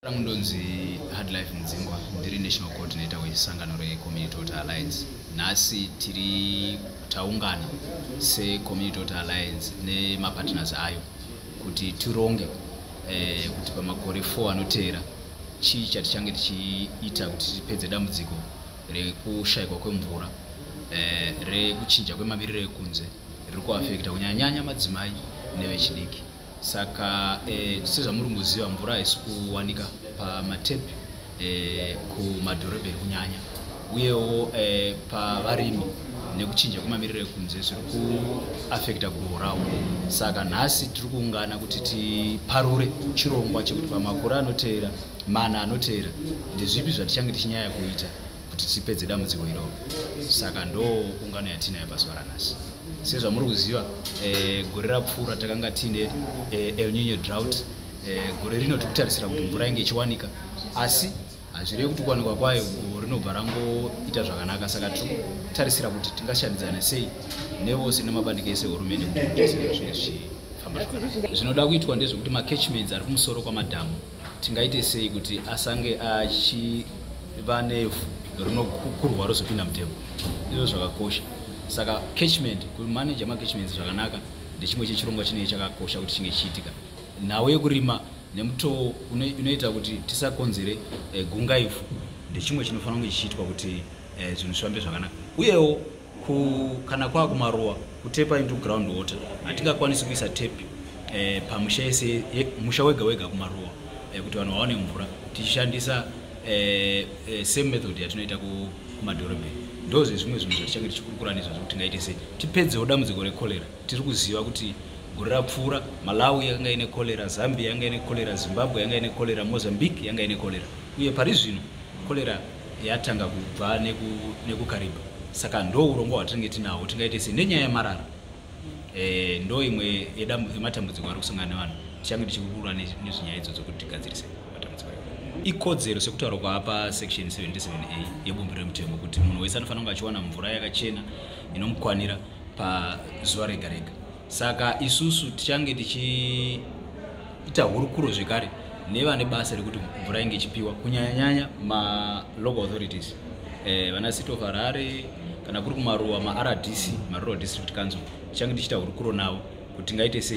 rangu ndonzi hard life mudzingwa ndiri national coordinator wesangano recommunity water alliance nhasi tiri taungana secommunity water alliance nemapartners ayo kuti tironge eh, kuti pamakore 4 anoteera chii chatichange tichiita kuti tipedze dambudziko rekushayikwa kwemvura eh, rekuchinja kwemamiriro ekunze riri kuafekta kunyanyanya madzimai nevechidiki saka eh, sezvamuri kuziva mvura haisi kuwanika pamatepi eh, kumadhorobheni kunyanya uyewo eh, pavarimi nekuchinja kwemamiriro ekunze zviri kuafekta guruvo ravo saka nhasi tiri kuungana kuti tiparure chirongwa chekuti pamakore anoteera mana anoteera ndezvipi zvatichange tichinyaya kuita kuti tipedze dambudziko iroro saka ndo ungano yatiinayo pazuva ranhasi sezvamuri kuziva eh, gore rapfuura takanga tiine eh, elnino drought eh, gore rino tiri kutarisira kuti mvura inge ichiwanika asi hazvirevi kuti kuwanikwa kwayo goho rinobva rangoita zvakanaka saka tiri kutarisira kuti tingashandidzana sei nevose nemabandiko ese hurumende kuti zvese zvinge zvichifamba zvinoda kuitwa ndezvekuti macatchments ari kumusoro kwamadhamu tingaite sei kuti asange achiva nevhu rinokukurwa rozopinda mutembo izvo zvakakosha saka catchment kumanaja macatchments zvakanaka ndechimwe chechirongwa chinei chakakosha kuti chinge chiitika nhau yekurima nemutoo unoita kuti tisakonzere eh, gungaifu ndechimwe chinofanira kunge chichiitwa kuti eh, zvinhu zvifambe zvakanaka uyewo Ku, kana kwava kumaruwa kutepa into ground water hatingakwanisi kuisa tepi eh, pamusha yese musha wega wega kumaruwa eh, kuti vanhu vaone mvura tichishandisa eh, eh, same method yatinoita kumadhorobheni ndo zvezvimwe zvinhu zvatichange tichikurukura nezvo zvekuti tingaite sei tipedzewo dambudziko rekolera tiri kuziva kuti gore rapfuura malawi yanga ine kolera zambia yanga ine kolera zimbabwe yanga ine kolera mozambique yanga ine kolera uye pari zvino kolera yatanga kubva nekukariba neku saka ndo urongwa hwatinenge tinahwo tingaite se nenyaya yemarara e, ndo imwe yematambudziko ari kusangana nevanhu tichange tichikurura nezvenyaya idzo dzokuti tigadzirise matambudziko ikodzero sekutaura kwaapa section 77a yebumbi remutemo kuti munhu wese anofanira kunge achiwana mvura yakachena inomukwanira pazuva rega rega saka isusu tichange tichiita hurukuro zvekare nevane basa rekuti mvura inge ichipiwa kunyanyanyanya malocal authorities eh, vana city of harare kana kuri kumaruwa maRDC marural district council tichange tichiita hurukuro navo kuti tingaite sei